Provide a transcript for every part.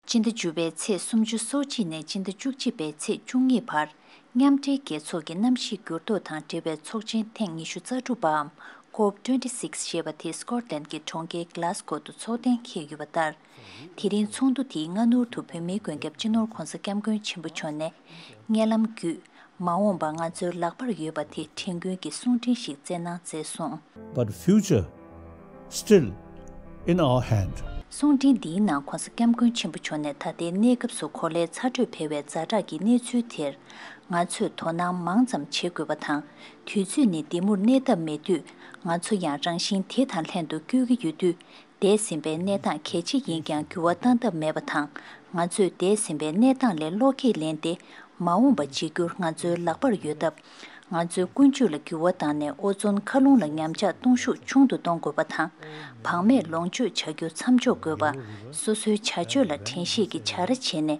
སྤྱི་ཟླ་བཅུ་པའི་ཚེས་སུམ་ཅུ་སོ་གཅིག་ནས་སྤྱི་ཟླ་བཅུ་གཅིག་པའི་ཚེས་བཅུ་གཉིས་བར་མཉམ་འབྲེལ་རྒྱལ་ཚོགས་ཀྱི་གནམ་གཤིས་འགྱུར་ལྡོག་དང་འབྲེལ་བའི་ཚོགས་ཆེན་ཐེངས་ཉི་ཤུ་རྩ་དྲུག་པའམ Cop twenty six ཞེས་པ་དེ Scotland གྱི་གྲོང་ཁྱེར Glasgow དུ་འཚོགས་གཏན་འཁེལ་ཡོད་པ་ལྟར། དེ་རིང་ཚོགས་འདུ་དེའི་སྔ་སྣུར་དུ་བོད་མིའི་མགོན་སྐྱབས་སྤྱི་ནོར ྋགོང་ས ྋསྐྱབས་མགོན་ཆེན་པོ་མཆོག་ནས། བརྙན་ལམ་བརྒྱུད་མ་འོངས་པ་ང་ཚོའི་ལག་པར་ཡོད་པ་དེ་དྲན་སྐུལ་གྱི་གསུང་འཕྲིན་ཞིག་བསྩལ་གནང་མཛད་སོང། But future still in our hand། གསུང་འཕྲིན་འདིའི་ནང ྋགོང་ས ྋསྐྱབས་མགོན་ཆེན་པོ་མཆོག་ནས་ད་ལྟའི་གནས་སྐབས་སུ་གོ་ལའི་ཚ་དྲོད་འཕེལ་བའི་རྫ་བྲག་གི་གནས་ཚུལ་དེར་ང་ཚོས་དོ་སྣང་མང་ཙམ་བྱེད་དགོས་པ་དང་དུས་ཚོད་ནི་འདི་མུར་གནས་ཐབས་མེད་དུས་ང་ཚོ་ཡང་རང་བཞིན་དེ་དང་ལྷན་དུ་སྐྱོད་ཀྱི་ཡོད་དུས་འདས་ཟིན་པའི་གནས་སྟངས་གལ་ཆེ་ཡིན་ཀྱང་འགྱུར་བ་བཏང་ཐབས་མེད་པ་དང་ང་ཚོས་འདས་ཟིན་པའི་གནས་སྟངས་ལས་བློ་ཁས་ལེན་ཏེ་མ་འོངས་པ་བརྗེ་བསྒྱུར་ང་ཚོའི་ལག་པར་ཡོད་སྟབས། ང་ཚོའི་ཀུན་སྤྱོད་ལ་འགྱུར་བ་བཏང་ནས་ཨོ་ཛོན་མཁའ་རླུང་ལ་ཉམས་ཆག་གཏོང་ཤུགས་ཆུང་དུ་གཏོང་དགོས་པ་དང། བག་མེད་ལོངས་སྤྱོད་བྱ་རྒྱུ་མཚམས་འཇོག་དགོས་པ། སོ་སོའི་བྱ་སྤྱོད་ལ་དྲན་ཤེས་ཀྱི་བྱ་ར་བྱས་ནས་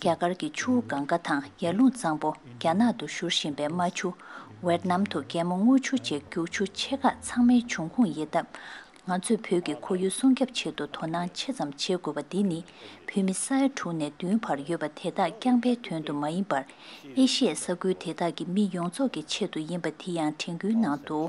རྒྱ་གར་གྱི་ཆུ་བོ་གང་གཱ་དང་ཡར་ཀླུང་གཙང་པོ་རྒྱ་ནག་ཏུ་བཞུར་བཞིན་པའི་རྨ་ཆུ། ཝེར་ནམ་དུ་རྒྱལ་མོ་རྔུལ་ཆུ་བཅས་རྒྱུག་ཆུ་ཆེ་ཁག་ཚང་མའི་འབྱུང་ཁུངས་ཡིན་སྟབས། ང་ཚོས་བོད་ཀྱི་ཁོར་ཡུལ་སྲུང་སྐྱབས་ཆེད་དུ་དོ་སྣང་ཆེ་ཙམ་བྱེད་དགོས་པ་འདི་ནི་བོད་མི་ས་ཡ་དྲུག་ནས་བདུན་བར་ཡོད་པ་དེ་དག་རྐྱང་པའི་དོན་དུ་མ་ཡིན་པར་ཨེ་ཤི་ཡའི་ས་ཁུལ་དེ་དག་གི་མི་ཡོངས་རྫོགས་ཀྱི་ཆེད་དུ་ཡིན་པ་དེ་ཡང་དྲན་སྐུལ་གནང་འདུག།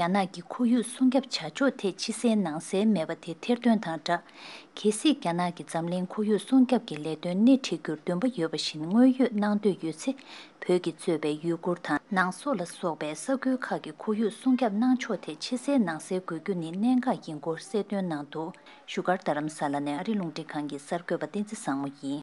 རྒྱ་ནག་གི་ཁོར་ཡུག་སྲུང་སྐྱབས་བྱ་ཕྱོགས་ཐད་ཕྱི་གསལ་ནང་གསལ་མེད་པ་དེ་ཐེར་འདོན་དང་སྦྲགས། གལ་སྲིད་རྒྱ་ནག་གིས་འཛམ་གླིང་ཁོར་ཡུག་སྲུང་སྐྱབས་ཀྱི་ལས་དོན་སྣེ་ཁྲིད་རྒྱུར་འདུན་པ་ཡོད་པ་བཞིན་དངོས་ཡོད་གནང་འདོད་ཡོད་ཚེ་བོད་ཀྱིས་གཙོས་པའི་ཡུ་གུར་དང། ནང་སོག་ལ་སོགས་པའི་ས་ཁུལ་ཁག་གི་ཁོར་ཡུག་སྲུང་སྐྱབས་གནང་ཕྱོགས་ཐད་ཕྱི་གསལ་ནང་གསལ་དགོས་རྒྱུ་ནི་གནད་འགག་ཡིན་སྐོར་གསལ་སྟོན་གནང་འདུག་བཞུགས་སྒར་རྡ་རམ་ས་ལ་ནས་ཨ་རི་རླུང་འཕྲིན་ཁང་གི་གསར་འགོད་པ་བསྟན་འཛིན་བཟང་མོ་ཡིས།